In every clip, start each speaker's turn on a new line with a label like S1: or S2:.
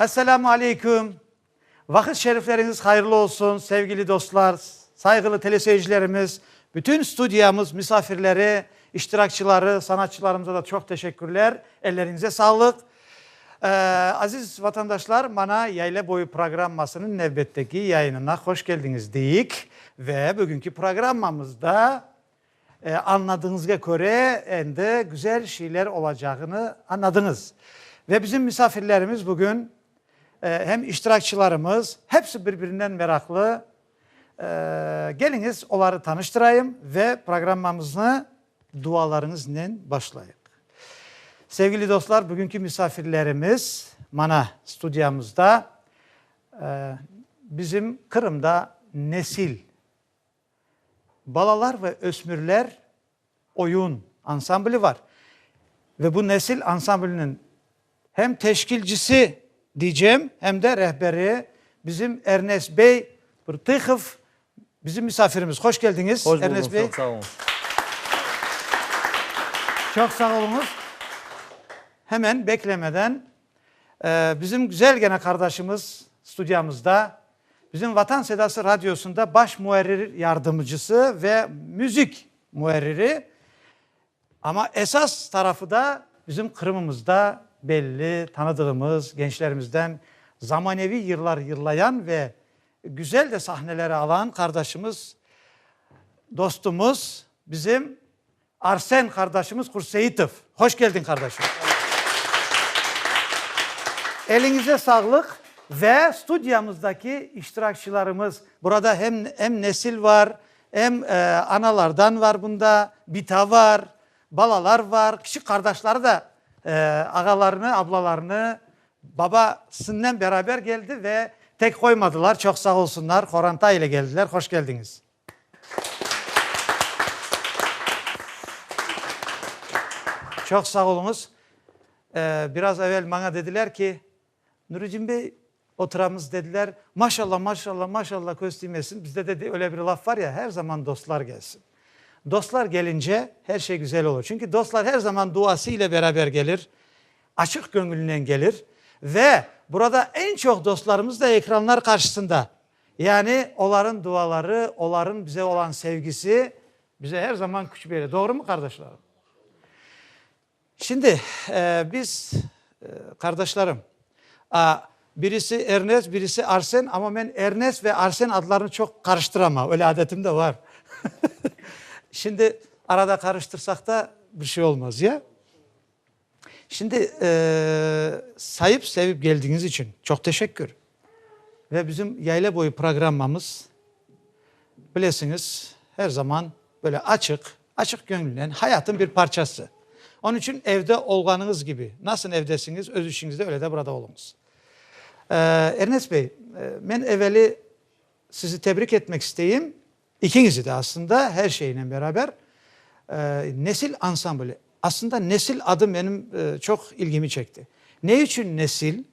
S1: Esselamu Aleyküm! Vaqıt şerifleriñiz hayırlı olsun, sevgili dostlar, sayğılı teleseyircilerimiz, bütün studiyamız misafirleri, iştirakçıları, sanatçılarımıza da çoq teşekkürler, elleriñize sağlıq. Aziz vatandaşlar, mana Yayla boyu programmasınıñ nevbetteki yayınına hoş keldiñiz deyik. Ve bugünki programmamızda, añladığıñızğa köre, endi güzel şeyler olacağını añladıñız. Ve bizim misafirlerimiz bugün, hem iştirakçılarımız, hepsi bir-birinden meraqlı, Keliñiz, oları tanıştırayım ve programmamıznı dualarıñıznen başlayıq. Sevgili dostlar, bugünki misafirlerimiz mana studiyamızda, bizim Qırımda nesil, balalar ve ösmürler oyun ansambli var ve bu nesil ansambliniñ hem teşkilcisi diycem, hem de rehberi bizim Ernest bey Tihov bizim misafirimiz. Hoş keldiñiz, Hoş bulduk, Ernest bey. Çok sağ olun. Çok sağ oluñız. Hemen beklemeden bizim güzelgene qardaşımız studiyamızda. Bizim Vatan Sedası Radiosında baş muarrir yardımcısı ve müzik muarriri, amma esas tarafı da bizim Qırımımızda belli, tanıdığımız gençlerimizden zamaneviy yırlar yırlayan ve güzel de sahneleri alan qardaşımız, dostumız, bizim Arsen qardaşımız Hurseitov. Hoş keldiñ, qardaşım. Eliñize sağlıq ve studiyamızdaki iştirakçilarımız. Burada hem em nesil var, em analardan var bunda, bita var, balalar var, kiçik qardaşları da ağalarını, ablalarını, baba sinen beraber geldi ve tek qoymadılar, çoq sağ olsunlar, qoranta ile geldiler. Hoş keldiñiz. Çoq sağ oluñız. Biraz evel maña dediler ki, Nuredin bey, oturamız dediler, maşalla, maşalla, maşalla, köz tiymesin, bizde de öyle bir laf var ya, her zaman dostlar gelsin. Dostlar gelince her şey güzel olur. Çünki dostlar her zaman duası ile beraber gelir, açıq köñülnen gelir ve burada eñ çoq dostlarımız da ekranlar qarşısında. Yani, olarnıñ duaları, olarnıñ bize olan sevgisi bize her zaman küç bere. Doğrumı, qardaşlarım? Şimdi, biz, qardaşlarım, birisi Ernest, birisi Arsen, amma men Ernest ve Arsen adlarını çoq qarıştıram, öyle adetim de bar. Şimdi, arada qarıştırsaq da bir şey olmaz, ya? Şimdi sayıp sevip geldiñiz içün çoq teşekkür. Ve bizim Yayla boyu programmamız bilesiñiz her zaman böyle açıq, açıq köñülnen hayatın bir parçası. Onıñ içün evde olğanıñız kibi, nasıl evdesiñiz öz işiñizde öyle de burada oluñız. Ernest bey, men eveli sizi tebrik etmek isteyim, İkiñizi de aslında, her şeynen beraber, Nesil ansambli. Aslında Nesil adı menim çoq ilgimi çekti. Ne içün Nesil?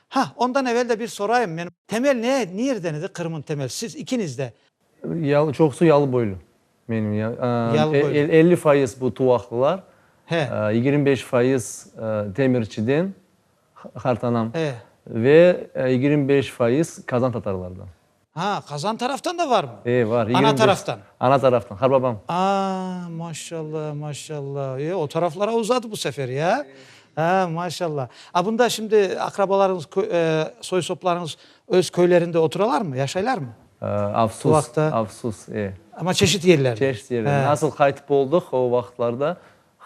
S1: Ha, ondan evel de bir sorayım, men. Temel ne, nirden edi Qırım'ın temel? Siz ikiniz de. Yalı, çoqusı
S2: yalı boylu. Menim ya, Yalı boylu. El, elli
S1: fayız bu
S2: Tuvaqlılar. He.
S1: Yigirmi beş fayız
S2: Demirçiden, qartanam. He.
S1: Ve
S2: yigirmi beş fayız Kazan Tatarlardan. Ha, Qazan
S1: taraftan da varmı? E, var. Ana taraftan? Ana taraftan, harbabam.
S2: A, maşalla,
S1: maşalla. E, o taraflara uzadı bu sefer, ya? A, maşalla. A, bunda şimdi aqrabalarıñız, soy-soplarıñız öz köylerinde oturalarmı, yaşaylarmı? Afsus,
S2: afsus, e. Amma
S1: çeşit yerlerde? Çeşit yerlerde. Nasıl
S2: qaytıp oldıq o vaqıtlarda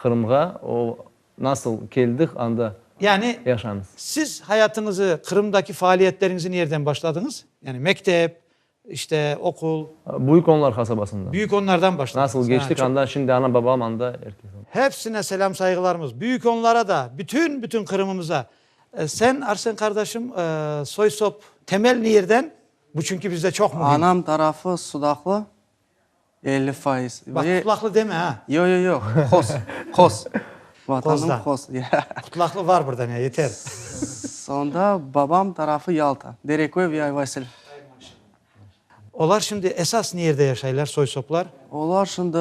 S2: Qırımğa, o. Nasıl keldik, anda Yani, yaşamız.
S1: siz
S2: hayatıñızı,
S1: Qırımdaki faaliyetleriñizi nerden başladıñız? Yani, mektep, işte, oqul. Büyük Onlar
S2: qasabasından. Büyük Onlardan başladınız. Nasıl
S1: geçtik, anda şimdi
S2: anam-babam anda, erkek anda. Hepsine
S1: selâm-sayğılarımız. Büyük Onlara da, bütün, bütün Qırımımıza. Sen, Arsen qardaşım, soy-sop, temel nirden? Bu çünki bizde çoq mühim. Anam tarafı
S3: Sudaqlı, Elli faiz. Bak, qutlaqlı
S1: deme, a! Yoq, yoq, yoq, qos,
S3: qos. Vatanım qos.
S1: Qutlaqlı
S3: var
S1: burda, ne, yeter. Sonda
S3: babam tarafı Yalta, Dereköy ve Ayvasil.
S1: Olar şimdi esas niyerde yaşaylar, soy-soplar? Olar şimdi.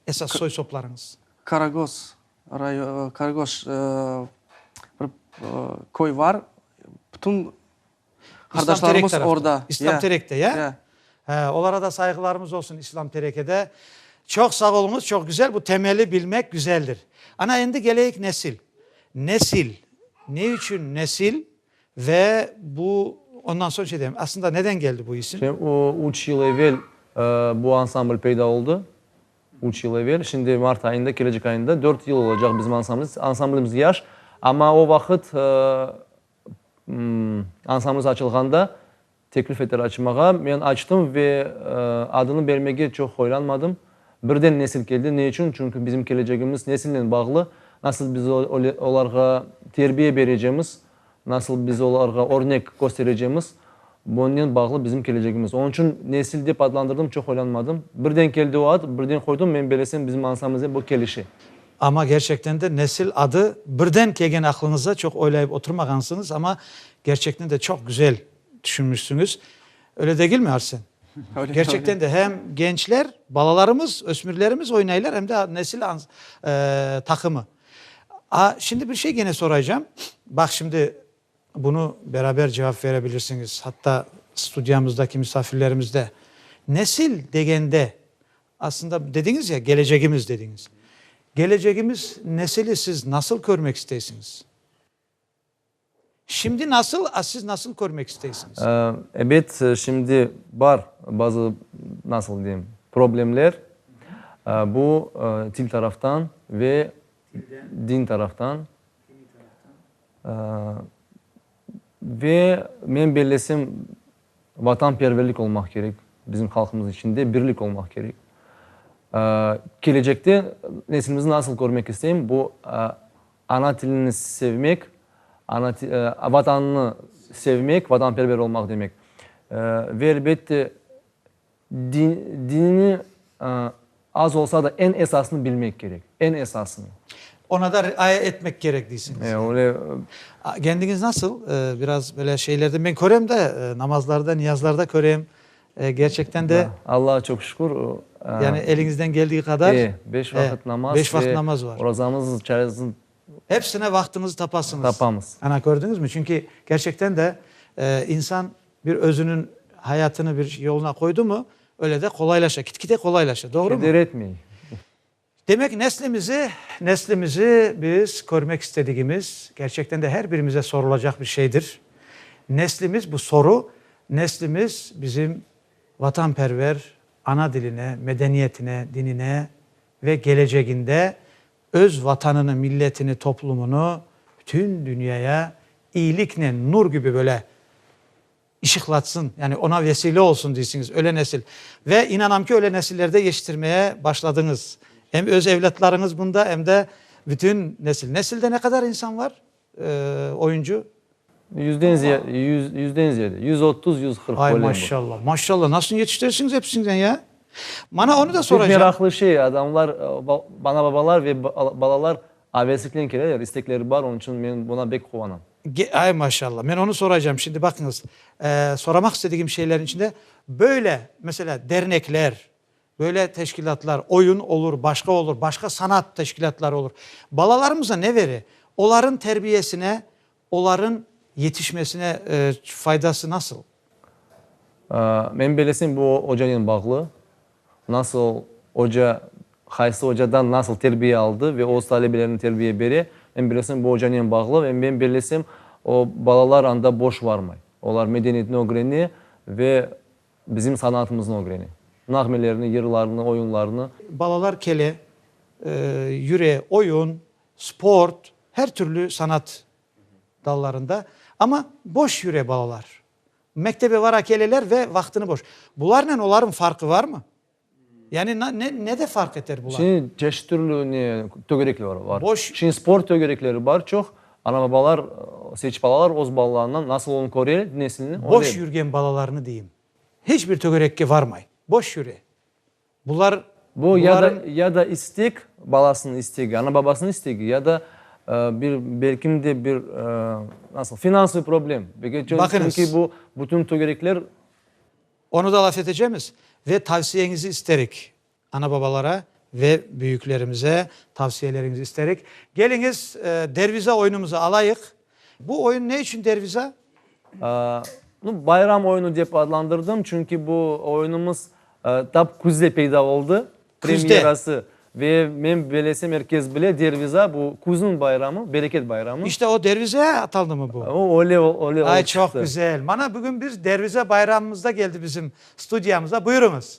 S3: Esas soy-soplarıñız? Karagoz
S1: rayo, Karagoz, bir
S3: köy var, bütün
S1: Qardaşlarımız orda.
S3: İslam
S1: Terek'te,
S3: ya?
S1: Ya. He,
S3: olara da
S1: sayğılarımız olsun, İslam Terek'ede. Çoq sağ oluñız, çoq güzel, bu temeli bilmek güzeldir. Ana, endi keleyik nesil. Nesil, ne içün nesil ve bu, ondan soñ şey deyem, aslında neden keldi bu isim? Şimdi o, üç yıl
S2: evel bu ansambl peyda oldu. Üç yıl evel. Şimdi mart ayında, kelecek ayında dört yıl olacaq bizim ansamblimiz. Ansamblimiz yaş, amma o vaqıt, Ansamız açılğanda teklif ettiler açmağa. Men açtım ve adını bermege çoq hoylanmadım. Birden nesil keldi. Ne içün? Çünki bizim kelecegimiz nesilnen bağlı. Nasıl biz olarğa terbiye berecemiz, nasıl biz olarğa örnek kösterecemiz. Bunnen bağlı bizim kelecegimiz. Onıñ içün nesil dep adlandırdım, çoq oylanmadım. Birden keldi o ad, birden qoydım, men belesem bizim ansamıznen bu kelişe. Amma kerçekten
S1: de nesil adı birden kelgen aqlıñızda, çoq oylayıp oturmağansıñız, amma kerçekten de çoq güzel tüşünmişsiñiz. Öyle degilmi, Arsen? Kerçekten
S3: de hem
S1: gençler, balalarımız, ösmürlerimiz oynaylar, hem de nesil taqımı. A, şimdi bir şey gene soraycam. Baq, şimdi Bunı beraber cevap verebilirsiñiz, hatta studiyamızdaki misafirlerimiz de. Nesil degende, aslında dediñiz ya, gelecegimiz dediñiz. Gelecegimiz nesili siz nasıl körmek isteysiñiz? Şimdi nasıl, a siz nasıl körmek isteysiñiz? Ebet,
S2: şimdi bar bazı, nasıl deyim, problemler. Bu til taraftan ve din taraftan. Ve men bellesem, vatanperverlik olmaq kerek, bizim halqımız içinde birlik olmaq kerek. Kelecekte nesilimizni nasıl körmek isteyim, bu, ana tilini sevmek, vatanını sevmek, vatanperver olmaq demek. Ve elbette, Dinini az olsa da eñ esasını bilmek kerek, eñ esasını. Oña da
S1: riaya etmek kerek deysiñiz yani. Öyle.
S2: Kendiñiz
S1: nasıl? Biraz böyle şeylerden men körem de, namazlarda, niyazlarda körem. Kerçekten de. Allaha çoq şükür.
S2: Yani
S1: eliñizden keldiği qadar. E, beş vaqıt namaz.
S2: Beş vaqıt namaz var.
S1: Orazamız, çayızın.
S2: Hepsine
S1: vaqtıñızı tapasıñız. Tapamız. Ana, kördüñizmi?
S2: Çünki
S1: kerçekten de insan. Bir özüniñ hayatını bir yoluna qoydı mı, öyle de qolaylaşa, kitkide qolaylaşa. Doğru mu? Keder etmey.
S2: Demek,
S1: neslimizi, neslimizi biz körmek istedigimiz, kerçekten de her birimize sorulacaq bir şeydir. Neslimiz, bu soru, neslimiz bizim vatanperver ana diline, medeniyetine, dinine ve geleceginde Öz Vatanını, milletini, toplumını bütün dünyaya iyiliknen nur kibi böyle ışıqlatsın, yani ona vesile olsun deysiñiz, öyle nesil. Ve inanam ki, öyle nesillerde yetiştirmeye başladıñız. Em öz evlâtlarıñız bunda, em de bütün nesil. Nesilde ne qadar insan var? oyuncu. Yüzden
S2: ziyade, yüz, yüzden ziyade, yüz otuz, yüz qırq, böyle. Ay, maşallah,
S1: maşallah,
S2: nasıl
S1: yetiştiresiñiz episinden ya? Mana onı da soracağım. Pek meraqlı şey, adamlar,
S2: ana-babalar ve balalar avesliknen keleler, istekleri bar, onıñ içün men buna bek quvanam. Ay, maşallah,
S1: men onı soracağım, şimdi baqıñız, soramaq istedigim şeylerniñ içinde, böyle, meselâ, dernekler, Böyle teşkilâtlar, oyun olur, başqa olur, başqa sanat teşkilâtları olur. Balalarımıza ne bere? Oların terbiyesine, oların yetişmesine faydası nasıl?
S2: Men belesem, bu ocanen bağlı. Nasıl oca, qaysı ocadan nasıl terbiye aldı ve öz talebelerine terbiye bere, men belesem, bu ocanen bağlı. Ve men belesem, o balalar anda boş varmay. Olar medeniyetni ögrene ve Bizim sanaatımıznı ögrene. Nağmelerini, yırlarını, oyunlarını. Balalar kele,
S1: yüre, oyun, sport, her türlü sanaat dallarında. Amma boş yüre balalar. Mektebe vara keleler ve vaqtını boş. Bularnen olarnıñ farqı varmı? Yani nede farq eter bular? Şimdi çeşit türlü
S2: ne tögerekler var. Var. Boş. Şimdi spor
S1: tögerekleri
S2: bar çoq. Ana-babalar seçip alalar öz balalarından nasıl olun köre nesilni. Boş yürgen balalarını
S1: deyim. Hiç bir tögerekke varmay. Boş yüre. Bular, Bu ya da
S2: ya da istek, balasınıñ istegi, ana-babasınıñ istegi ya da bir belkim de bir nasıl finansıviy problem. Baqıñız. Çünki bu
S1: bütün
S2: tögerekler Onı
S1: da laf etecemiz ve tavsiyeñizi isterik. Ana-babalara ve büyüklerimize tavsiyeleriñizi isterik. Keliñiz, derviza oyunumızı alayıq. Bu oyun ne içün derviza? Aaa, bayram
S2: oyunu dep adlandırdım, çünki bu oyunumız tap küzde peyda oldı. premyerası
S1: ve
S2: men belesem er kes bile derviza bu küzniñ bayramı, bereket bayramı. İşte o dervize
S1: atalnımı bu? O öyle öyle olıp çıqtı.
S2: Ay çoq güzel.
S1: Mana bugün
S2: bir
S1: dervize bayramımızda geldi bizim studiyamıza. Buyurıñız.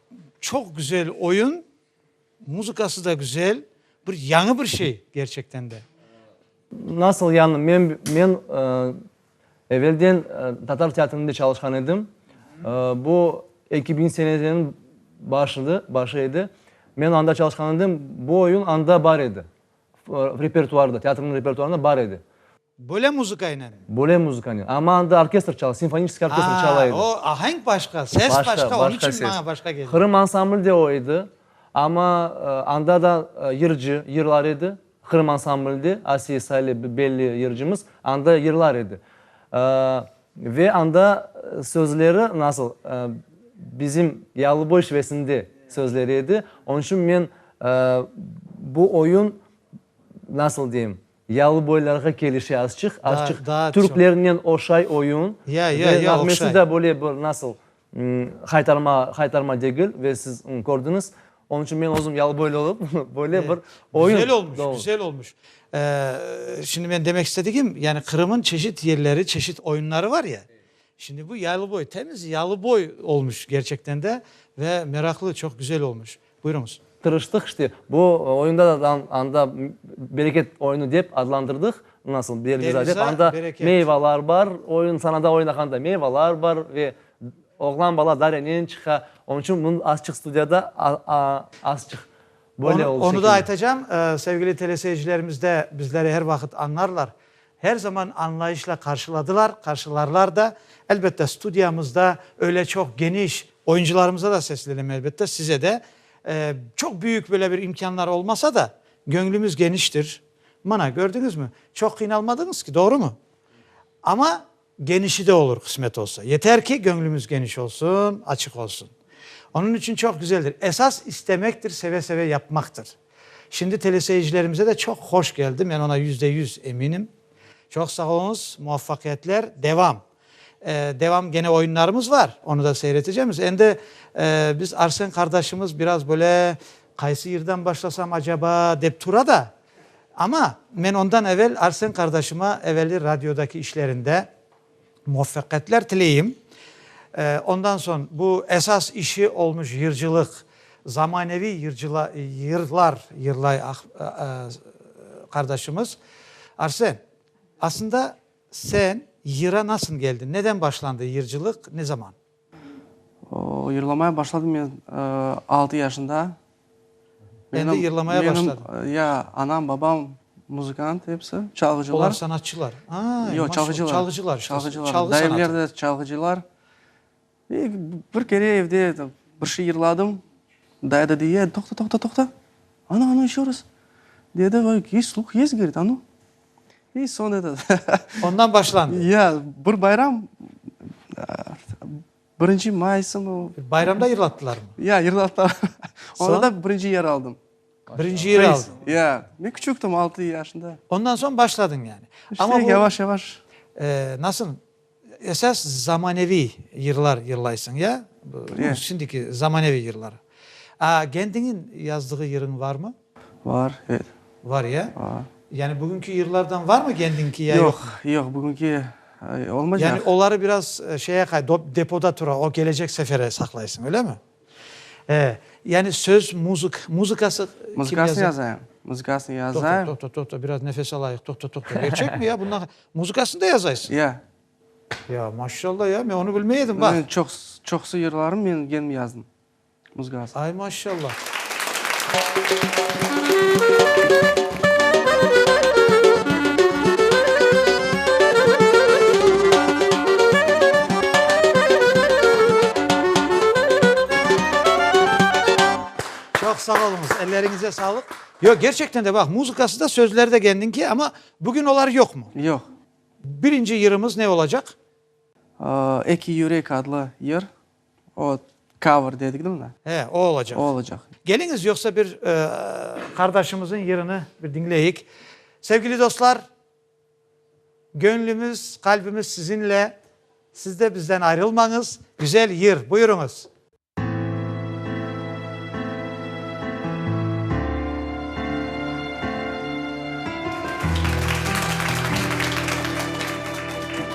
S1: Çoq güzel oyun, muzıkası da güzel, bir yañı bir şey gerçekten de.
S2: Nasıl yañı? Men, men evelden tatar teatrında çalışqan edim. Bu eki biñinci senelerniñ başıdı, başı edi. Men anda çalışqan edim, bu oyun anda bar edi, repertuarda, teatrnıñ repertuarında bar edi. Böyle
S1: muzıkaynen? Böyle muzıkaynen.
S2: Amma anda orkestr çalay, simfoniçeskiy orkestr çalay edi. Aa, o ahenk başqa,
S1: ses başqa, onıñ içün maña başqa keldi. Qırım ansamblı da o
S2: edi. Amma anda da yırcı, yırlar edi. Qırım ansamblı da, Asiye Sale, belli yırcımız, anda yırlar edi. Ve anda sözleri nasıl, bizim Yalıboy şivesinde sözleri edi. Onıñ içün men bu oyun, nasıl deyim, Yalıboylarğa kelişi azçıq, azçıq türklernen
S1: oşay
S2: oyun ve nağmesi
S1: da
S2: böyle bir
S1: nasıl,
S2: haytarma, haytarma degil ve siz kördiñiz. Onıñ içün men özüm yalıboylı olıp, böyle bir oyun. Güzel olmuş, güzel olmuş.
S1: Şimdi men demek istedigim, yani Qırım'ın çeşit yerleri, çeşit oyunları var ya, şimdi bu yalıboy, temiz yalıboy olmuş gerçekten de ve meraklı, çoq güzel olmuş. Buyurıñız. Tırıştıq işte,
S2: bu oyunda da anda bereket oyunu dep adlandırdıq, nasıl, Berliza dep, anda
S1: meyvalar
S2: bar, oyun, sanada oynağanda meyvalar bar ve oğlan bala darenen çıqa, onıñ içün bunı azçıq studiyada, azçıq böyle oldu şekilde. Onı da aytacam,
S1: sevgili teleseyircilerimiz de bizleri er vaqıt añlarlar, Her zaman añlayışla qarşıladılar, qarşılarlar da. Elbette, studiyamızda öyle çoq geniş, oyuncılarımıza da seslenem, elbette, size de. Çoq büyük böyle bir imkânlar olmasa da, göñlümiz geniştir. Mana, kördüñizmi, çoq qıynalmadıñız ki, doğrumı? Amma Genişi de olur, qısmet olsa. Yeter ki, göñlümiz geniş olsun, açıq olsun. Onıñ içün çoq güzeldir. Esas istemektir, seve-seve yapmaqtır. Şimdi teleseyircilerimize de çoq hoş geldi, men ona yüzde yüz eminim. Çoq sağ oluñız, muvafaqiyetler, devam. Devam gene oyunlarımız var, onı da seyretecemiz. Endi biz Arsen qardaşımız biraz böyle qaysı yırdan başlasam acaba dep tura da, Amma men ondan evel Arsen qardaşıma evelli radiodaki işlerinde muvaffaqiyetler tileyim. Ondan soñ bu esas işi olmuş yırcılıq, zamaneviy yırlar yırlay qardaşımız. Arsen, asında sen yıra nasıl keldiñ? Neden başlandı yırcılıq, ne zaman?
S3: Yırlamaya başladım men altı yaşında.
S1: Endi yırlamaya başladın? Menim, ya, anam,
S3: babam muzıkant episi, çalğıcılar. Olar sanatçılar?
S1: Ay, Yoq, çalğıcılar.
S3: Çalğıcılar işte. Çalğıcılar.
S1: Çalğı sanatı. Dayımlar da çalğıcılar.
S3: E, bir kere evde bir şey yırladım. Dayı da dey, toqta, toqta, toqta, a nu, a nu, eşe раз, dedi, ve sluh yez, dedi, a nu. İ, soñra da. Ondan başlandı.
S1: Ya, bir bayram,
S3: birinci maysımı. Bayramda yırlattılarmı?
S1: Ya, yırlattılar.
S3: Soñ? Onda da
S1: birinci yer
S3: aldım. Birinci yer
S1: aldın. Ya, men küçüktim,
S3: altı yaşında. Ondan soñ başladın
S1: yani. İşte, yavaş-yavaş.
S3: Nasıl?
S1: Esas zamaneviy yırlar yırlaysıñ, ya? Ye. Şimdiki
S3: zamaneviy
S1: yırlar. A gendiñin yazdığı yırıñ varmı? Var, evet.
S3: Var, ya? Var.
S1: Yani bugünki yırlardan varmı gendiñki ya yoq? Yoq, yoq, bugünki
S3: olmaycaq. Yani oları biraz
S1: şeye qay, depoda tura, o kelecek sefere saqlaysıñ, öylemi? E, yani söz muzık, muzıkası kim yaza? Muzıkasını yazayım,
S3: muzıkasını yazayım. Toqta, toqta, toqta, biraz nefes
S1: alayıq, toqta, toqta, gerçek mi ya bundan, muzıkasını da yazaysıñ? Ya.
S3: Ya,
S1: maşallah ya, men onı bilmey edim, bax. Çoqsu, çoqsu
S3: yırlarım men kendim yazdım muzıkasını. Ay, maşallah.
S1: Çoq sağ oluñız, elleriñize sağlıq. Yoq, kerçekten de, baq, muzıkası da, sözleri de kendiñki, amma bugün olar yoqmı? Yoq.
S3: Birinci
S1: yırımız ne olacaq?
S3: Eki yürek adlı yır. O cover dedigni mına. He, o olacaq. O olacaq.
S1: Keliñiz,
S3: yoqsa bir
S1: qardaşımızın yırını bir diñleyik. Sevgili dostlar, göñlümiz, qalbimiz sizinle, siz de bizden ayrılmañız. Güzel yır, buyurıñız.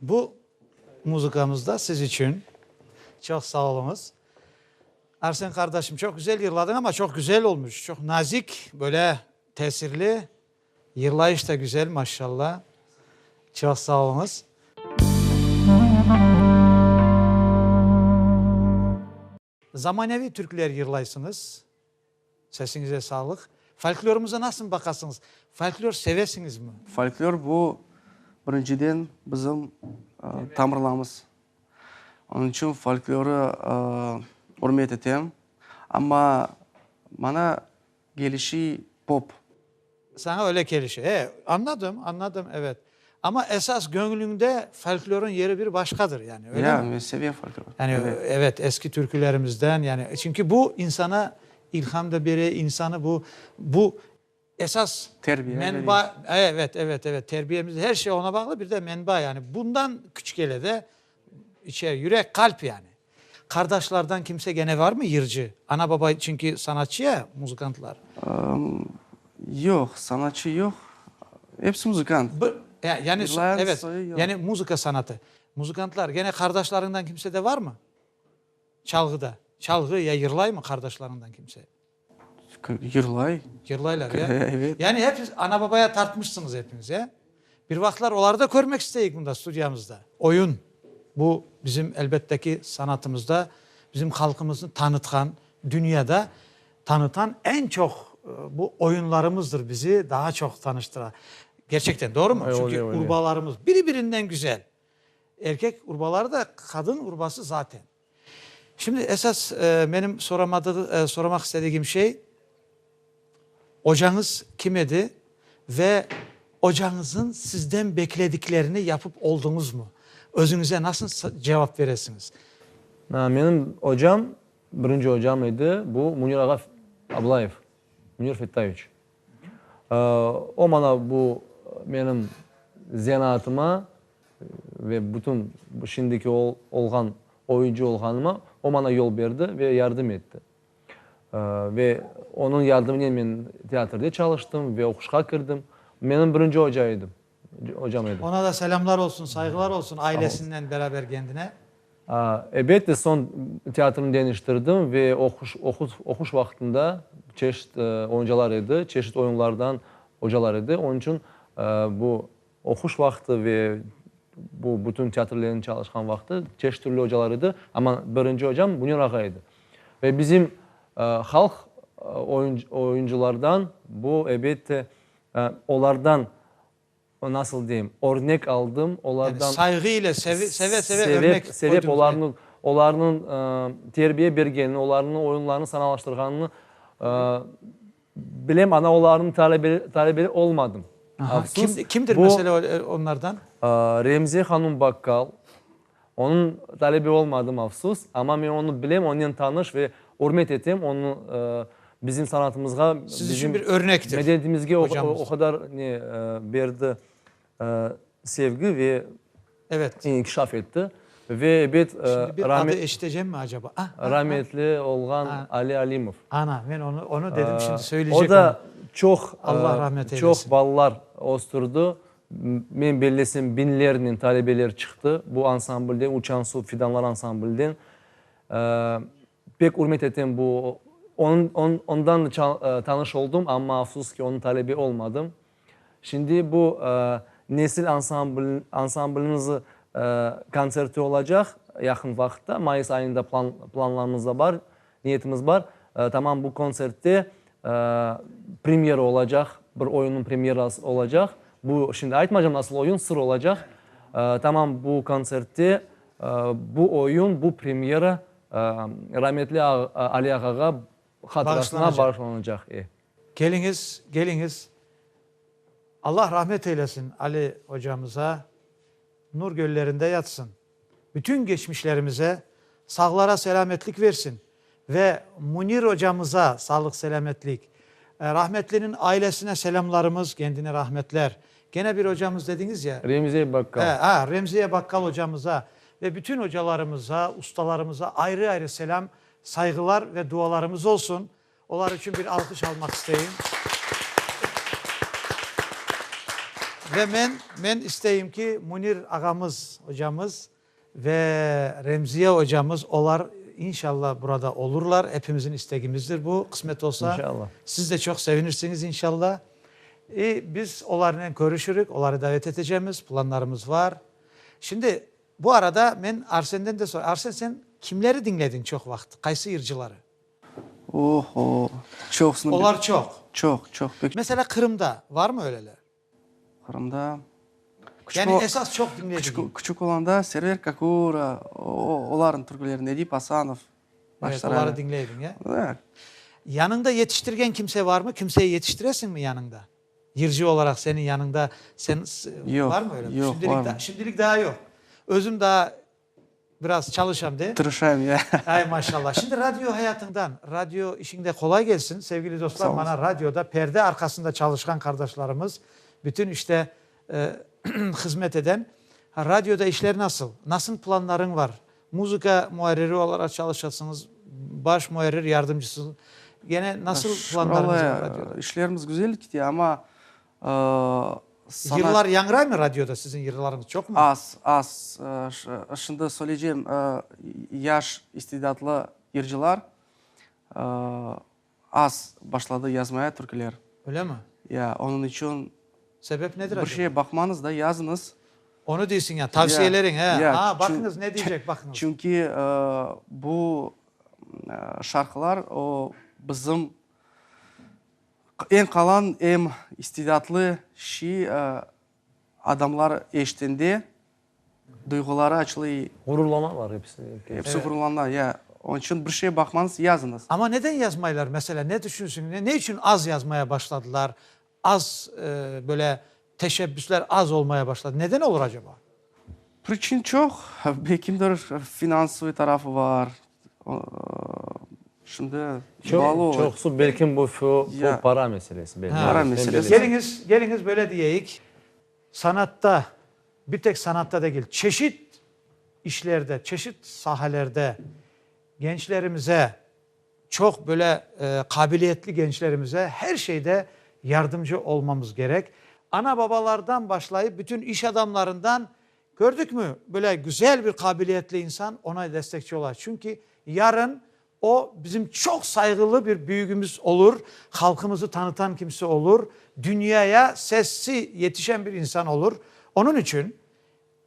S1: Bu muzıkamızda siz içün. Çoq sağ oluñız. Arsen qardaşım, çoq güzel yırladıñ, amma çoq güzel olmuş, çoq nazik, böyle tesirli, yırlayış da güzel, maşşalla. Çoq sağ oluñız. Zamaneviy türkler yırlaysıñız, sesiñize sağlıq. Folklorımıza nasıl baqasıñız? Folklor sevesiñizmi? Folklor bu,
S3: birinciden, bizim tamırlamız. Onıñ içün folklorı ürmet etem. Amma, mana, kelişi pop. Saña
S1: öyle kelişi. E, anladım, anladım, evet. Amma esas göñlüñde folklorın yeri bir başqadır, yani, öyle mi? Ya, men sevem folklor.
S3: Yani, evet,
S1: eski türkülerimizden, yani, çünki bu insana ilham da bere, insanı bu, bu esas menba,
S3: evet,
S1: evet, evet, terbiyemiz, her şey oña bağlı, bir de menba, yani, bundan küç kele de, İçe, yürek, qalp yani. Qardaşlardan kimse gene varmı yırcı? Ana-baba çünki sanatçı ya, muzıkantlar.
S3: Yoq, sanatçı yoq. Episi muzıkant. Yani,
S1: evet,
S3: yani
S1: muzıka
S3: sanatı.
S1: Muzıkantlar, gene qardaşlarından kimse de varmı? Çalğıda, çalğı ya yırlaymı qardaşlarından kimse?
S3: Yırlay. Yırlaylar,
S1: ya? Evet. Yani hepiz
S3: ana-babaya
S1: tartmışsıñız epiñiz, ya? Bir vaqıtlar oları da körmek isteyik mında, studiyamızda. Oyun, bu bizim, elbette ki, sanatımızda bizim halqımıznı tanıtqan, dünyada tanıtan eñ çoq bu oyunlarımızdır bizi daha çoq tanıştıra. Gerçekten, doğrumı? Çünki urbalarımız
S2: biri-birinden
S1: güzel. Erkek urbaları da, qadın urbası zaten. Şimdi esas menim soramaq istedigim şey, ocañız kim edi ve ocañıznıñ sizden beklediklerini yapıp oldıñızmı? Özüñize nasıl cevap beresiñiz? Menim
S2: ocam, birinci ocam edi, bu Munir ağa Ablayev, Munir Fettayeviç. O maña bu menim zenaatıma ve bütün şimdiki olğan oyuncı olğanıma o maña yol berdi ve yardım etti. Ve onıñ yardımınen men teatrde çalıştım ve oquşqa kirdim. Menim birinci oca edi. Ocam edi. Ona da selâmlar
S1: olsun, sayğılar olsun, ailesinnen beraber kendine. Ebette,
S2: soñ teatrnı deñiştirdim ve oquş vaqtında çeşit oyuncalar edi, çeşit oyunlardan ocalar edi. Onıñ içün bu oquş vaqtı ve bu bütün teatrlerniñ çalışqan vaqtı çeşit türlü ocalar edi. Amma birinci ocam Münir ağa edi. Ve bizim halq oyuncılardan bu, ebette, Olardan, nasıl deyim, örnek aldım, olardan. Yani sayğı
S1: ile, seve, seve, seve örnek qoydunız. Sevep, olarnıñ, olarnıñ
S2: terbiye bergenini, olarnıñ oyunlarını sanalaştırğanını bilem, ana olarnıñ talebe, talebeli olmadım. Aha, kimdir,
S1: kimdir mesela
S2: onlardan?
S1: Remziye
S2: hanım Bakkal, Onıñ talebi olmadım, afsus, amma men onı bilem, onnen tanış ve ürmet etem, onı bizim sanatımızğa, bizim
S1: medeniyetimizge o
S2: qadar
S1: ne
S2: berdi, sevgi ve
S1: inkişaf etti.
S2: Ve ebet
S1: rametli
S2: olğan Ali Alimov.
S1: O da
S2: çoq
S1: balalar
S2: östürdi, Men bellesem biñlernen talebeler çıqtı bu ansamblden, Uçan suv fidanları ansamblden. Pek ürmet etem bu ondan tanış oldım, amma afsus ki onıñ talebe olmadım. Şimdi bu nesil ansambliniñiz kontserti olacaq yaqın vaqıtta, mayıs ayında planlarımızda bar. Niyetimiz bar, tamam bu kontsertte premyera olacaq, bir oyunniñ premyerası olacaq. Bu, şimdi aytmaycam nasıl oyun, sır olacaq. Tamam bu kontsertte bu oyun, bu premyera rametli Ali ağağa hatırasına bağışlanacaq. E. Keliñiz,
S1: keliñiz. Allah rahmet eylesin Ali ocamıza, nur köllerinde yatsın. Bütün geçmişlerimize sağlara selâmetlik versin ve Munir ocamıza sağlıq-selâmetlik, rahmetliniñ ailesine selâmlarımız, kendine rahmetler. Gene bir ocamız dediñiz ya? Remziye Bakkal. He, ha,
S2: Remziye Bakkal
S1: ocamıza ve bütün ocalarımıza, ustalarımıza ayrı-ayrı selâm, sayğılar ve dualarımız olsun. Olar içün bir alqış almaq isteyim. Ve men, men isteyim ki, Münir ağamız, ocamız ve Remziye ocamız, olar, inşallah, burada olurlar. Epimizin istegimizdir bu. Qısmet olsa, siz de çoq
S2: sevinirsiniz,
S1: inşallah. İ, biz olarnen körüşürük, oları davet etecemiz, planlarımız var. Şimdi, bu arada men Arsenden de soray. Arsen, sen kimleri diñlediñ çoq vaqıt, qaysı yırcıları? Oho,
S3: çoqsını. Olar çoq.
S1: Çoq, çoq, pek çoq. Meselâ,
S3: Qırımda
S1: varmı öyleler? Qırımda.
S3: Yani
S1: esas çoq diñledigiñ. Küçük olanda Server
S3: Kakura, olarnıñ türküleri, Nedip Asanov. Evet, oları
S1: diñley ediñ, ya? Ya.
S3: Yanıñda
S1: yetiştirgen kimse varmı? Kimseyi yetiştiresiñmi yanıñda? Yırcı olaraq seniñ yanıñda, sen,
S3: varmı öyle? Yoq,
S1: yoq, varmı. Şimdilik
S3: daa yoq.
S1: Özüm daa. Biraz çalışam de. Tırışayım, ya. Ay,
S3: maşallah. Şimdi
S1: radio hayatıñdan, radio işiñde qolay kelsin. Sevgili dostlar, Sağ mana olasıñ. radioda
S3: perde
S1: arqasında çalışqan qardaşlarımız, bütün işte hızmet eden. Radioda işler nasıl? Nasıl planlarıñ var? Muzıka muarriri olaraq çalışasıñız, baş muarrir yardımcısı. Gene nasıl planlarıñız var radioda? Şükür Allağa, işlerimiz güzel kite,
S3: amma, Sana.
S1: Yırlar yañıraymı radioda, siziñ yırlarıñız çoqmı? Az, az.
S3: Şimdi söyleycem, yaş istidatlı yırcılar az başladı yazmaya türküler. Öylemi? Ya,
S1: onıñ içün.
S3: Sebep nedir acaba?
S1: Bir şeye baqmañız da, yazıñız.
S3: Onı deysiñ
S1: yani, tavsiyeleriñ, he. Ya. Aa, baqıñız, ne deycek, baqıñız. Çünki
S3: bu şarqılar o bizim. Em qalan, em istidadlı şi adamlar eşitende duyğuları açılay. Ğururlanalar episi.
S2: Episi ğururlana,
S3: ya. Onıñ içün bir şey baqmañız, yazıñız. Amma neden yazmaylar,
S1: mesela, ne düşünsün, ne içün az yazmaya başladılar, az böyle. Teşebbüsler az olmaya başladı. Neden olur acaba? Priçin
S3: çoq. Belki finansıviy tarafı bar. Şimdi bağlı ola. Çoqusı
S2: belki bu para
S3: meselesi.
S2: Para meselesi. Keliñiz, keliñiz
S3: böyle
S2: diyeyik,
S1: sanatta, bir tek sanatta degil, çeşit işlerde, çeşit sahelerde gençlerimize, Çoq böyle qabiliyetli gençlerimize her şeyde yardımcı olmamız gerek. Ana-babalardan başlayıp bütün iş adamlarından, kördükmü, böyle güzel bir qabiliyetli insan, ona destekçi ola. Çünki yarın o, bizim çoq sayğılı bir büyügimiz olur, halqımızı tanıtan kimse olur, dünyaya sesi yetişen bir insan olur. Onıñ içün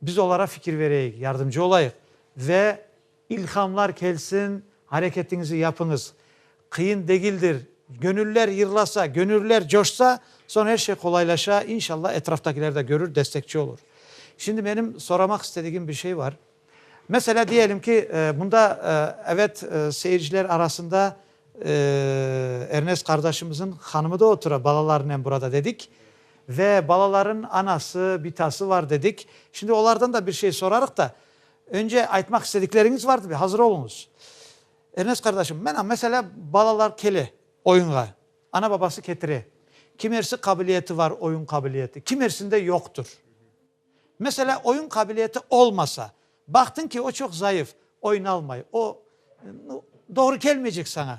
S1: Biz olara fikir bereyik, yardımcı olayıq ve ilhamlar kelsin, areketiñizi yapıñız. Qıyın degildir. Göñüller yırlasa, göñüller coşsa, soñ er şey qolaylaşa, inşallah etraftakiler de körür, destekçi olur. Şimdi menim soramaq istedigim bir şey bar. Meselâ, diyelim ki, mında, evet, seyirciler arasında Ernest qardaşımızıñ hanımı da otura balalarınen burada dedik. Ve balaların anası, bitası var dedik. Şimdi olardan da bir şey sorarıq da, önce aytmaq istedikleriñiz var dıbe, hazır oluñız. Ernest qardaşım, mena, meselâ, balalar kele oyunğa, ana-babası ketire. Kimersi qabiliyeti var, oyun qabiliyeti, kimersinde yoqtur. Meselâ, oyun qabiliyeti olmasa, baqtıñ ki, o çoq zayıf, oynalmay, o, nu, doğru kelmeycek saña.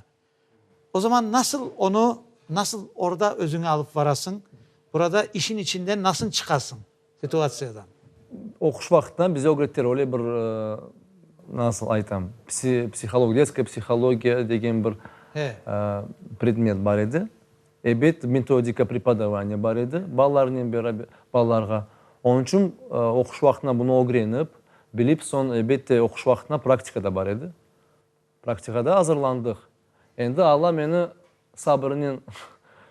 S1: O zaman nasıl onı, nasıl orda özüñi alıp varasıñ, burada işin içinden nasıl çıqasıñ, situatsiyadan? Oquş
S2: vaqıttan bize ögrettiler, öyle bir, nasıl aytam, psi, psiholog, detskaya psihologiya degen bir, e, predmet bar edi. Ebet, metodika prepodavaniya bar edi balalarnen beraber, balalarğa. Onıñ içün oquş vaqtına bunı ögrenip, bilip, soñ, ebette, oquş vaqtına praktika da bar edi. Praktiğa da azırlandıq. Endi Alla meni sabırınen,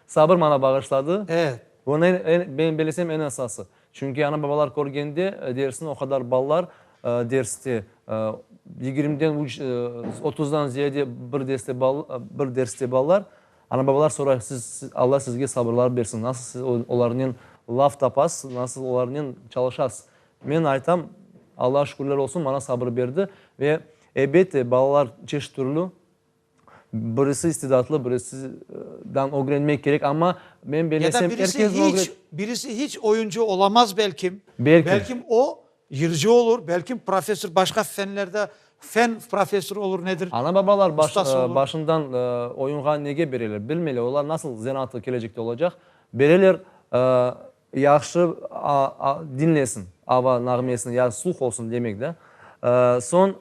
S2: sabır maña bağışladı. Evet. Bunı en, en,
S1: men
S2: belesem, en esası. Çünki ana-babalar körgende, dersin o qadar balalar derste, yigirmiden üç, otuzdan ziyade bir deste bal, bir derste balalar, Ana-babalar soray, siz, siz, Alla sizge sabırlar bersin, nasıl siz o, olarnen laf tapasız, nasıl olarnen çalışasız? Men aytam, Allağa şükürler olsun, maña sabır berdi ve, ebette, balalar çeşit türlü, birisi istidatlı, birisi, e, dan ögrenmek kerek, amma men Ya da belesem, birisi herkesni hiç,
S1: ögret. birisi hiç oyuncı olamaz belkim, Belkim. belkim o, Yırcı olur, belkim professor başqa fenlerde fen professorı olur, nedir, Ana-babalar baş, ustası
S2: olur. başından oyunğa nege bereler? Bilmeyler, olar nasıl zenaatlı kelecekte olacaq? Bereler, yahşı a, dinlesin, ava nağmesini, ya sluh olsun, demek da. Soñ,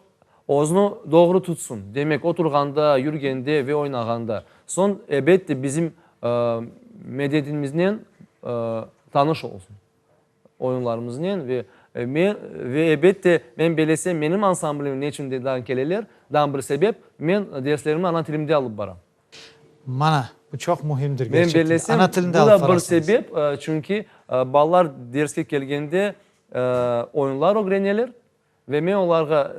S2: özüni doğru tutsun, demek, oturğanda, yürgende ve oynağanda. Soñ, ebette, bizim medetinmiznen tanış olsun. oyunlarımıznen ve men, ve ebet de, men belesem menim ansamblimim neçün deden keleler, dan bir sebep, men derslerimni ana tilimde alıp baram. Mana,
S1: bu çoq mühimdir Men gerçekten de. belesem Ana
S2: tilinde bu
S1: da alıp bir
S2: barasıñız.
S1: sebep,
S2: çünki balalar derske kelgende oyunlar ögreneler, Ve men olarğa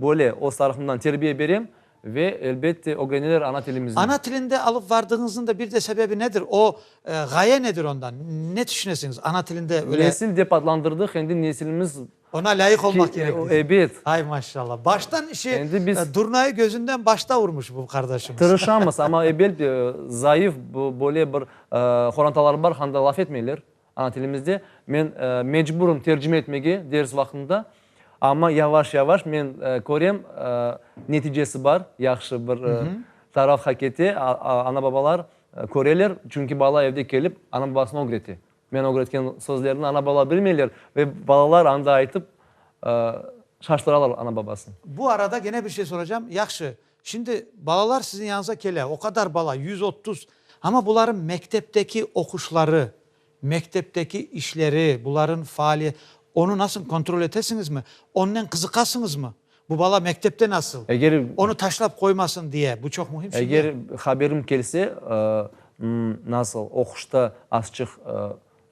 S2: böyle öz tarafımdan terbiye berem ve, elbette, ögreneler ana tilimizni. Ana tilinde alıp
S1: vardığıñıznıñ da bir de sebebi nedir? O, ğaye nedir ondan? Ne tüşünesiñiz? Ana tilinde öyle. Nesil dep adlandırdıq,
S2: endi nesilimiz. Oña lâyıq olmaq
S1: kerek deysiñ. Ebet. Ay,
S2: maşallah.
S1: Baştan işi, Endi biz. Durnayı
S2: gözünden başta
S1: urmuş bu qardaşımız. Tırışamız, amma, ebet,
S2: zayıf böyle bir horantalar bar, handa laf etmeyler. Ana tilimizde men mecburım tercime etmege ders vaqtında, amma yavaş-yavaş men körem, neticesi bar, yahşı bir taraf hak ete, ana-babalar köreler, çünki bala evde kelip ana-babasına ögrete. Men ögretken sözlerni ana-bala bilmeyler ve balalar anda aytıp şaştıralar ana-babasını. Bu arada gene bir
S1: şey soracağım, yahşı, Şimdi balalar siziñ yañıza kele, o qadar bala, yüz otuz. Amma bularnıñ mektepteki oquşları, mektepteki işleri, bularnıñ faali, onı nasıl kontrol etesiñizmi? Onnen qızıqasıñızmı? Bu bala mektepte nasıl? Eger. Onı taşlap
S2: qoymasın
S1: diye, bu çoq mühim şimdi. Eger haberim kelse,
S2: nasıl, oquşta azçıq.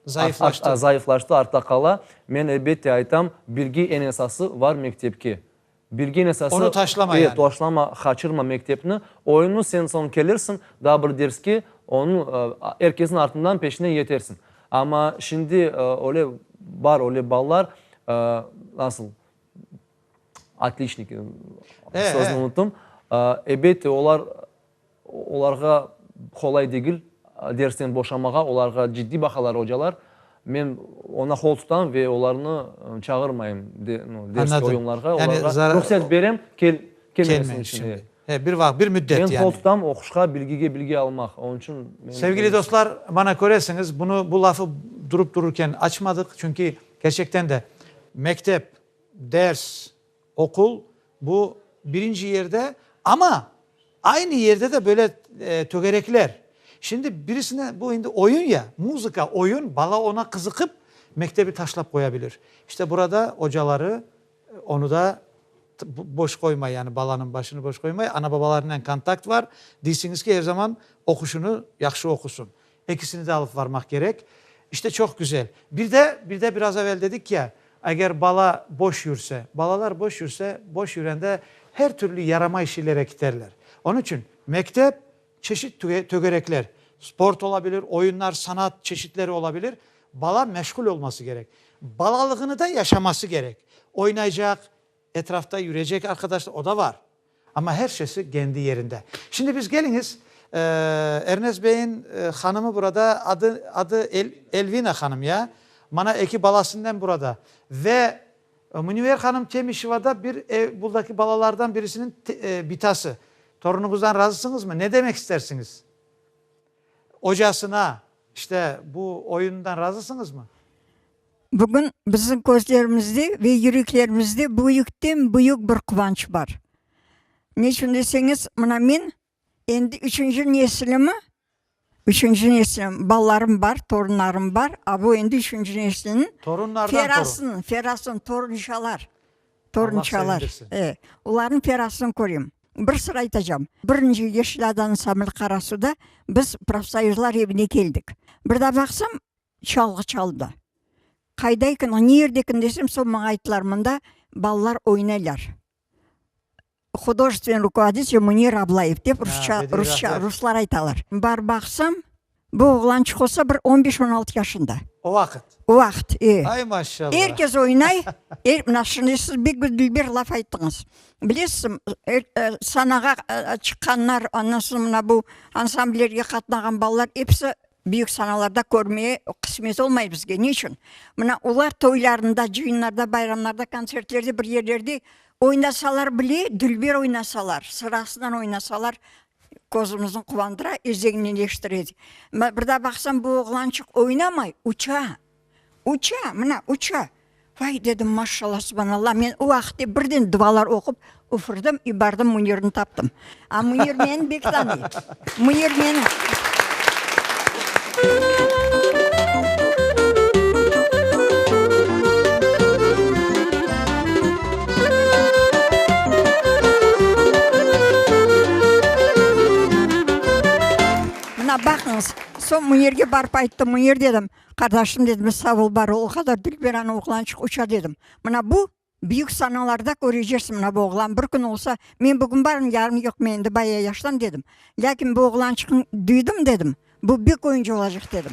S2: Zayıflaştı. Zayıflaştı, artta qala, men elbette aytam, birge eñ esası var mektepke. Bilgen esası. Onı taşlama yani. E,
S1: taşlama, qaçırma
S2: mektepni. Oyunı sen soñ kelirsiñ, daa bir derske, onı er kesin artından, peşinen yetersiñ. Amma şimdi öyle bar, öyle balalar, nasıl, otliçnik, sözüni unuttum, elbette olar. Olarğa qolay degil dersten boşamağa, olarğa ciddiy baqalar ocalar. Men oña qol tutam ve olarnı çağırmayım ders ve oyunlarğa,
S1: olarğa
S2: ruhset
S1: berem
S2: kelmemesi içün.
S1: He, bir
S2: vaqıt, bir
S1: müddet yani. Men qol tutam oquşqa,
S2: bilgige bilgi almaq. Onıñ içün men. Sevgili dostlar,
S1: mana köresiñiz, bunı, bu lafı durup dururken açmadıq, çünki, kerçekten de, mektep, ders, Oqul, bu birinci yerde, amma aynı yerde de böyle tögerekler. Şimdi birisine, bu indi oyun ya, muzıka, oyun, bala ona qızıqıp, mektebi taşlap qoya bilir. İşte burada ocaları onu da boş qoymay, yani balanıñ başını boş qoymay, ana-babalarınen kontakt var, deysiñiz ki, er zaman oquşunı yahşı oqusın. Ekisini de alıp varmaq kerek. İşte çoq güzel. Bir de, bir de biraz evel dedik ya, eger bala boş yürse, balalar boş yürse, boş yürende her türlü yaramay şeylere kiterler. Onıñ içün mektep, çeşit tögerekler, sport ola bilir, oyunlar, sanat çeşitleri ola bilir, bala meşğul olması kerek. Balalığını da yaşaması kerek. Oynaycaq. Etrafta yürecek arqadaşlar, o da var. Amma her şeysi kendi yerinde. Şimdi biz keliñiz, Ernest beyin hanımı burada, adı, adı Elvina hanım, ya? Mana eki balasınen burada. Ve Münevver hanım Temişevada bir ev, buradaki balalardan birisiniñ bitası. Torunuñızdan razısıñızmı? Ne demek istersiñiz? Ocasına, işte, bu oyunundan razısıñızmı? Bugün
S4: bizim közlerimizde ve yüreklerimizde büyükten-büyük bir quvanç bar. Ne içün deseñiz, mına men endi üçünci nesilimi, üçünci neslim, balalarım bar, torunlarım bar, a bu endi üçünci nesliniñ ferasın, ferasın, torunçalar, torunçalar, e, olarnıñ ferasın körem. Bir sır aytacağım, birinci Yeşil adanıñ Samil Qarasuvda biz profsoyuzlar evine keldik. Bir da baqsam, Çalğı çaldı. Qayda eken o, nerde eken desem, sol maña ayttılar, mında balalar oynaylar. Hudojestvenniy rukovoditelь Munira Ablayev dep rusça, rusça, ruslar aytalar. Barıp baqsam, bu oğlançıq olsa bir on beş, on altı yaşında. O vaqıt? O
S1: vaqıt, e.
S4: Ay, maşallah! Er
S1: kes oynay,
S4: er, mına şimdi siz bek bir dilber laf ayttıñız. Bilesizmi, er, sanağa çıqqanlar, ondan soñ mına bu ansamblerge qatnağan balalar episi Büyük sanalarda körmeye qısmet olmay bizge. Ne içün? Mına olar toylarında, cıyınlarda, bayramlarda, kontsertlerde, bir yerlerde oynasalar bile, dülber oynasalar, sırasınan oynasalar, közümizniñ quvandıra, eziñneleştire. Mına bir daa baqsam, bu oğlançıq oynamay, uça. Uça, mına, uça! Vay, dedim, maşşalla, subhanalla, men o vaqıtte birden dualar oqup, üfürdim i bardım Münirni taptım. A Münir meni bek tanıy. Münir meni. Mına baqıñız, soñ Münirge barıp ayttım, Münir, dedim, Qardaşım, dedi, men sağ ol, bar ol, o qadar dülberan oğlançıq uça, dedim. Mına bu, büyük sanalarda köreceksiñ, mına bu oğlan bir kün olsa, men bugün barım, yarın yoq, men endi baya yaşlım, dedim. Lâkin bu oğlançıqnı duydım, dedim, bu bek oyuncı olacaq, dedim.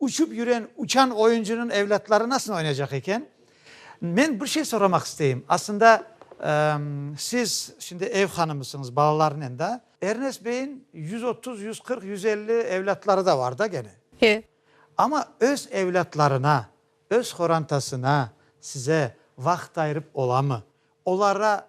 S1: Uçıp yüren uçan oyuncınıñ evlâtları nasıl oynayacaq eken? Men bir şey soramaq isteyim. Aslında siz şimdi ev hanımısıñız balalarnen da. Ernest beyiñ yüz otuz, yüz qırq, yüz elli evlâtları da var da gene. He.
S5: Amma öz
S1: evlâtlarına, öz qorantasına, size vaqıt ayırıp olamı? Olara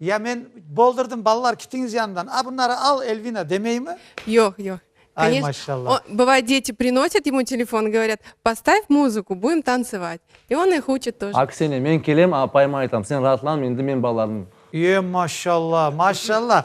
S5: Ya men
S1: boldurdım, balalar kitiñiz yanımdan. A, bunları al, Elvina, demeymi? Yoq, yoq.
S5: Ay, Koneç- maşallah.
S1: O, bıvay, deti
S5: prinosit ymu telefon, govoryat, Postav muzuku, budim tansovat. I on ih uçit toje. Aksine, men kelem,
S2: apayıma aytam, Sen raatlanma, endi men balalarnıñ. Ye, maşallah,
S1: maşallah.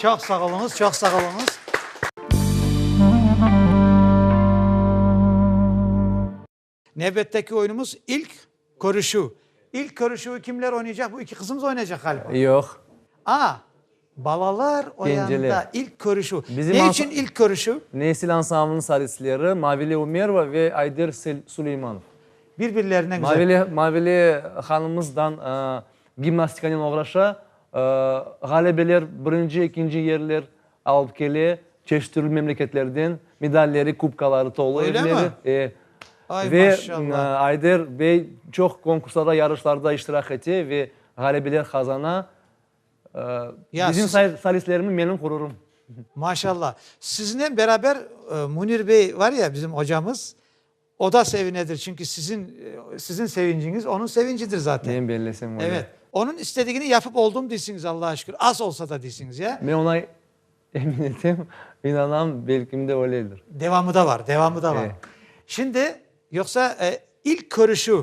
S1: Çoq sağ oluñız, çoq sağ oluñız. Nevbetteki oyunumız ilk körüşüv. İlk körüşüvi kimler oynaycaq? Bu iki qızımız oynaycaq ğaliba. Yoq. A, balalar oyanda ilk
S2: körüşüv.
S1: Ne içün ilk
S2: körüşüv?
S1: Nesil ansamblınıñ
S2: solistleri Mavile Umerova ve Ayder Suleymanov. Bir-birlerine
S1: güzel. Mavile
S2: hanımımızdan Gimnastikanen oğraşa, ğalebeler, birinci, ekinci yerler alıp kele, çeşit türlü memleketlerden medalleri, kubkaları tolu evleri. Öyle mi? Ay, maşallah.
S1: Ve
S2: Ayder
S1: bey
S2: çoq konkurslarda, yarışlarda iştirak ete ve ğalebeler qazana.
S1: Ya Bizim siz-
S2: solistlerimiz menim
S1: ğururım.
S2: Maşallah.
S1: Siznen beraber Münir bey var ya, bizim ocamız, O da sevinedir, çünki sizin, sizin sevinciñiz onıñ sevincidir zaten. Men bellesem öyle. Evet.
S2: Onıñ istedigini
S1: yapıp oldım deysiñiz, Allağa şükür, az olsa da deysiñiz, ya? Men oña
S2: emin etem, inanam, belkim de öyledir. Devamı da bar, devamı
S1: da bar. Şimdi, yoqsa ilk körüşüv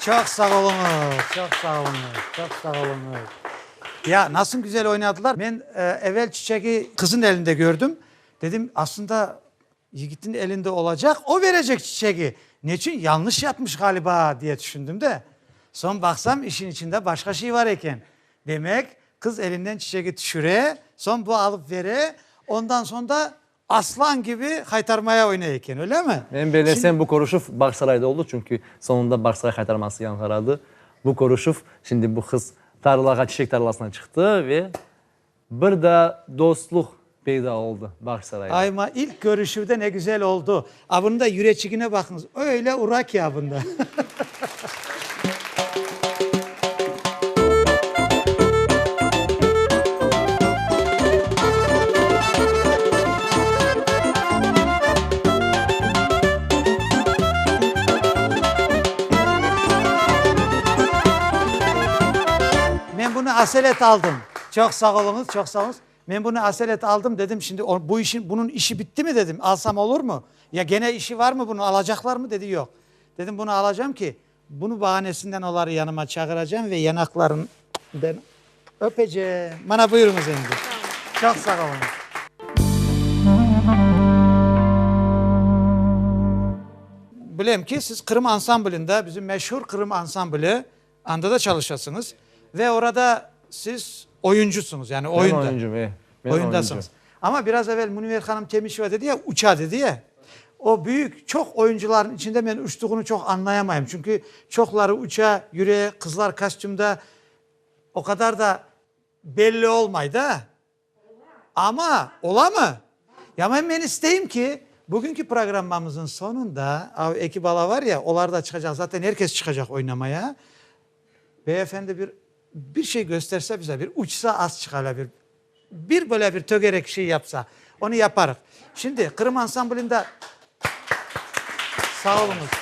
S1: Çoq sağ oluñız, çoq sağ oluñız, çoq sağ oluñız. Ya, nasıl güzel oynadılar. Men evel çiçegi qızın elinde kördim. Dedim, aslında yigitin elinde olacaq, o verecek çiçegi. Neçün? Yanlış yapmış ğaliba, diye tüşündim de. Soñ baqsam, işin içinde başqa şey bar eken. Demek, qız elinden çiçegi tüşüre, soñ bu alıp bere, ondan soñ da Aslan kibi haytarmaya oynay eken, öylemi? Men belesem, bu körüşüv
S2: Bağsarayda oldı, çünki soñunda Bağsaray haytarması yañğıradı. Bu körüşüv, şimdi bu qız tarlağa, çiçek tarlasına çıqtı ve bir daa dostluq peyda oldı Bağsarayda. Ay, ma, ilk körüşüvde
S1: ne güzel oldu. Avında yüreçigine baqıñız, öyle ura ki avında. Men bunı aselet aldım. Çoq sağ oluñız, çoq sağ oluñız. Men bunı asel et aldım, dedim, şimdi o, bu işin, bunıñ işi bittimi, dedim, alsam olurmı? Ya gene işi varmı bunıñ, alacaqlarmı? Dedi, yoq. Dedim, bunı alacam ki, bunı bahanesinden oları yanıma çağıracam ve yanaqlarından öpecem. Mana buyurıñız endi. Çoq sağ oluñız. Bilem ki, siz Qırım ansamblinde, bizim meşhur Qırım ansambli, Anda da çalışasıñız ve orada siz oyuncusıñız, yani oyunda. Men oyuncum, e. Men
S2: oyuncum.
S1: Amma biraz
S2: evel
S1: Münver hanım Temişeva dedi ya, uça dedi ya, o büyük, çoq oyuncularnıñ içinde men uçtuğunı çoq añlayamayım. Çünki çoqları uça, yüre, qızlar kostümda o qadar da belli olmay da. Amma, olamı? Yañı men isteyim ki, bugünki programmamıznıñ soñunda, av eki bala var ya, olar da çıqacaq, zaten er kes çıqacaq oynamaya, beyefendi bir, bir şey gösterse bize, bir uçsa az çıqala, bir, bir böyle bir tögerek şey yapsa. Onı yaparıq. Şimdi Qırım ansamblında, sağ oluñız,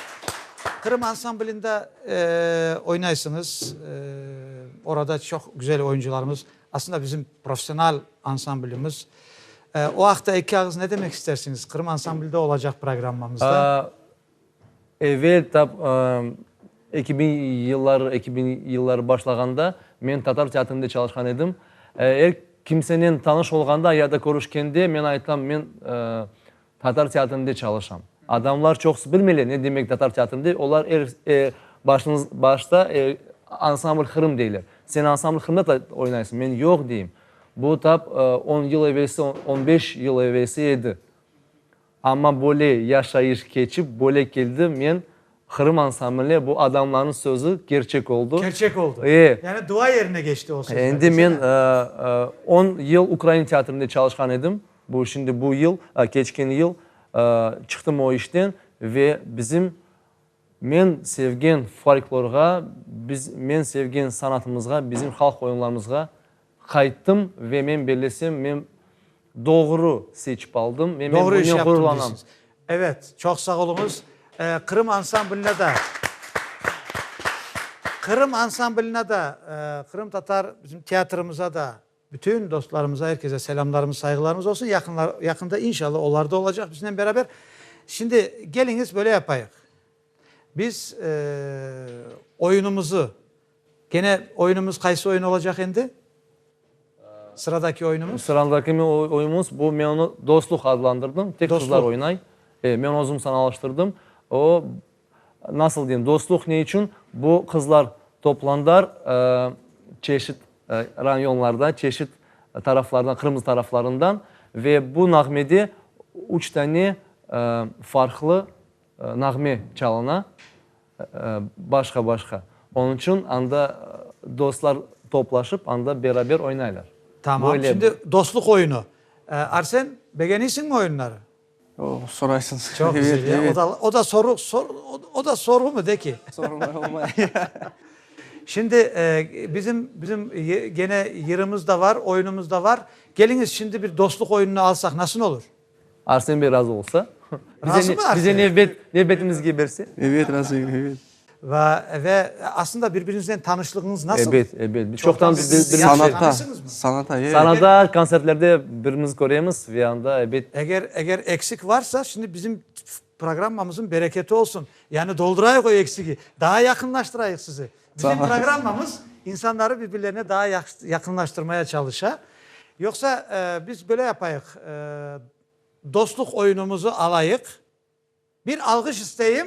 S1: Qırım ansamblında, eee, oynaysıñız, eee, orada çoq güzel oyuncılarımız. Aslında bizim professional ansamblimiz. O aqta eki ağız ne demek istersiñiz? Qırım ansamblde olacaq programmamızda.
S2: Evel tap eki biñ yılları, eki biñ yılları başlağanda men Tatar teatrinde çalışqan edim. Er kimsenen tanış olğanda ya da körüşkende men aytam, men Tatar teatrinde çalışam. Adamlar çoqusı bilmeyler ne demek tatar teatrinde, olar er e, başınız, başta e, ansambl Qırım deyler. Sen ansambl Qırımda da oynaysıñ, men yoq deyim. Bu tap e, on yıl evelsi, on- on beş yıl evelsi edi. Amma böyle yaşayış keçip, böyle keldi, men Qırım ansambli, bu adamlarnıñ sözü kerçek oldu. Kerçek oldu. E. Yani
S1: dua yerine geçti o sözler. Endi men
S2: on yıl ukrain teatrında çalışqan edim. Bu şimdi bu yıl, keçken yıl çıqtım o işten ve bizim men sevgen folklorğa, biz men sevgen sanatımızğa, bizim halq oyunlarımızğa Qayttım ve men bellesem, men doğru seçip aldım ve men bunen ğururlanam.
S1: Evet, çoq sağ oluñız. Qırım ansambline da, Qırım ansambline da, qırımtatar bizim teatrımıza da, bütün dostlarımıza, her kese selamlarımız, sayğılarımız olsun. Yaqında, yaqında inşallah, olar da olacaq biznen beraber. Şimdi, geliñiz, böyle yapayıq. Biz oyunımızı, gene oyunımız qaysı oyun olacaq endi? Sıradaki oyunımız? Sıradaki oyunımız,
S2: bu men onı Dostluq adlandırdım, tek qızlar oynay.
S1: E,
S2: men özüm sanalaştırdım. O, nasıl deyim, Dostluq ne içün? Bu qızlar toplandar, çeşit rayonlardan, çeşit taraflardan, Qırımnıñ taraflarından ve bu nağmede üç tane farqlı, Nağme çalına, başqa-başqa. Onıñ içün anda dostlar toplaşıp, anda beraber oynaylar. Tamam, şimdi
S1: dostluq
S2: oyunı.
S1: Arsen, begeniysiñmi oyunları? O, soraysıñız.
S3: Çoq güzel, ya.
S1: O da, o da soru,
S3: sor,
S1: o da sorğumı, de ki? Sorğumay
S3: olmay.
S1: Şimdi, bizim, bizim gene yırımız da bar, oyunumız da bar. Keliñiz, şimdi bir dostluq oyunını alsaq, nasıl olur? Arsen bey razı
S2: olsa. Bize
S1: nevbet, nevbetimizge
S2: berse. Ebet, razıyım, ebet.
S3: Va, ve
S1: aslında birbirinizden tanışlığıñız nasıl? Ebet, ebet. Biz çoqtan bir-birimizden
S2: tanışıñız mı? Sanatda, sanatda,
S1: ebet. Sanatda,
S3: konsertlerde
S2: bir-birimizni köremiz ve anda, ebet. Eger, eger eksik
S1: varsa, şimdi bizim. Programmamızın bereketi olsun, yani doldurayıq o eksigi, daa yaqınlaştırayıq sizi. Bizim programmamız insanları birbirlerine daa yaqınlaştırmaya çalışa. Yoqsa biz böyle yapayıq, dostluq oyunumızı alayıq. Bir alğış isteyim.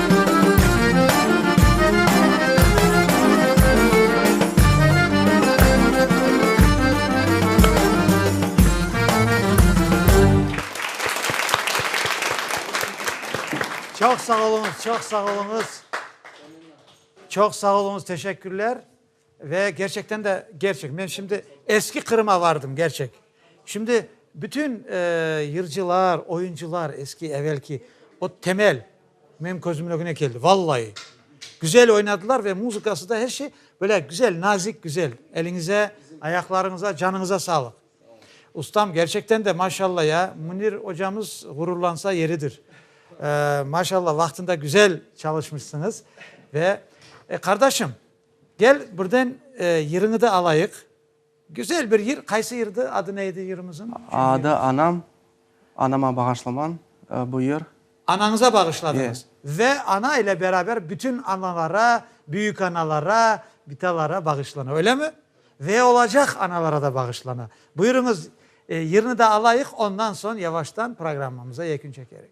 S1: Çoq sağ oluñız, çoq sağ oluñız. Çoq sağ oluñız, teşekkürler. Ve gerçekten de, gerçek, men şimdi eski Qırım'a vardım, gerçek. Şimdi bütün yırcılar, oyuncılar, eski, evelki, o temel menim közümün ögüne keldi, vallayi. Güzel oynadılar ve muzıkası da, her şey böyle güzel, nazik, güzel. Eliñize, ayaqlarıñıza, canıñıza sağlıq. Ustam, gerçekten de, maşallah ya, Münir ocamız ğururlansa yeridir. Maşallah, vaqtında güzel çalışmışsıñız. Ve, qardaşım. Gel, birden yırıñı da alayıq. Güzel bir yır, qaysı yırdı, adı ne edi yırımızın? Adı Anam,
S3: anama bağışlaman, bu yır. Anañıza
S1: bağışladıñız. Ve ana ile beraber bütün analara, büyükanalara, bitalara bağışlana, öylemi? Ve olacaq analara da bağışlana. Buyurıñız, yırnı da alayıq, ondan soñ yavaştan programmamıza yekün çekerik.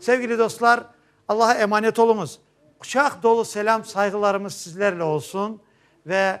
S1: Sevgili dostlar, Allaha emanet oluñız. Quçaq dolu selâm sayğılarımız sizlerle olsun ve